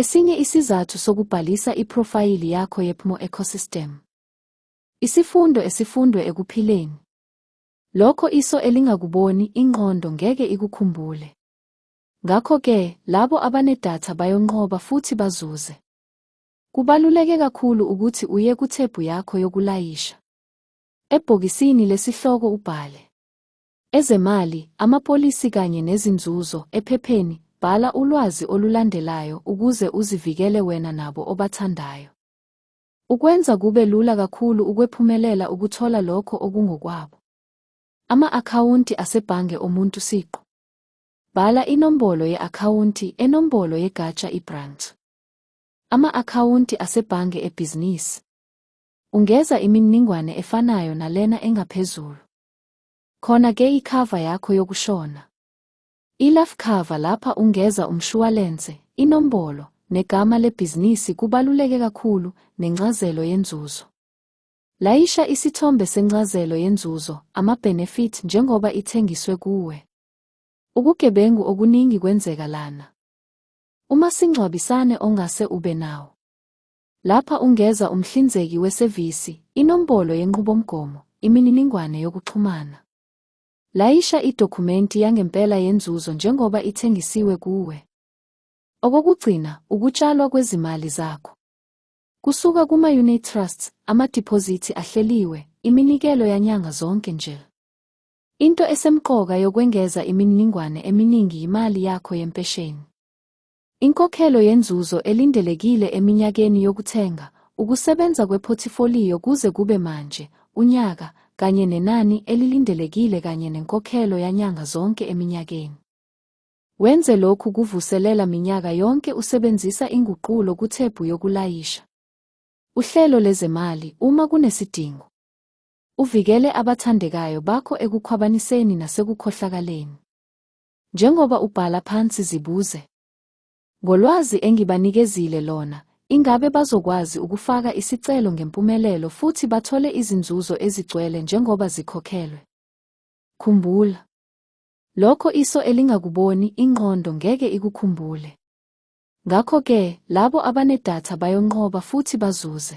Esinye isizathu sokubhalisa iphrofayili yakho yePMO Ecosystem. Isifundo esifundwe ekuphileni. Lokho iso elingakuboni, ingqondo ngeke ikukhumbule. Ngakho-ke, labo abanedatha bayonqoba futhi bazuze. Kubaluleke kakhulu ukuthi uye kuthebhu yakho yokulayisha. Ebhokisini lesihloko ubhale. Ezemali, amapolisi kanye nezinzuzo, ephepheni, bhala ulwazi olulandelayo ukuze uzivikele wena nabo obathandayo. Ukwenza kube lula kakhulu ukwephumelela ukuthola lokho okungokwabo. Ama-akhawunti asebhange omuntu siqu. Bhala inombolo ye-akhawunti enombolo yegatsha i-branch. Ama-akhawunti asebhange ebhizinisi. Ungeza imininingwane efanayo nalena engaphezulu. Khona ke ikhava yakho yokushona. Ilaf cover lapha ungeza umshuwalense, inombolo, negama lebhizinisi kubaluleke kakhulu, nencazelo yenzuzo. Layisha isithombe sencazelo yenzuzo, ama-benefit njengoba ithengiswe kuwe. Ukugebengu okuningi kwenzeka lana. Umasingcwabisane ongase ube nawo. Lapha ungeza umhlinzeki wesevisi, inombolo yenqubomgomo, imininingwane yokuxhumana. Layisha idokhumenti yangempela yenzuzo njengoba ithengisiwe kuwe. Okokugcina, ukutshalwa kwezimali zakho. Kusuka kuma-unit trusts, amadiphozithi ahleliwe, iminikelo yanyanga zonke nje. Into esemqoka yokwengeza imininingwane eminingi yimali yakho yempesheni. Inkokhelo yenzuzo elindelekile eminyakeni yokuthenga, ukusebenza kwephothifolio kuze kube manje, unyaka, kanye nenani elilindelekile kanye nenkokhelo yanyanga zonke eminyakeni. Wenze lokhu kuvuselela minyaka yonke usebenzisa inguqulo kuthebhu yokulayisha. Uhlelo lezemali uma kunesidingo. Uvikele abathandekayo bakho ekukhwabaniseni nasekukhohlakaleni. Njengoba ubhala phansi zibuze. Ngolwazi engibanikezile lona, ingabe bazokwazi ukufaka isicelo ngempumelelo futhi bathole izinzuzo ezigcwele njengoba zikhokhelwe? Khumbula. Lokho iso elingakuboni, ingqondo ngeke ikukhumbule. Ngakho-ke, labo abanedatha bayonqoba futhi bazuze.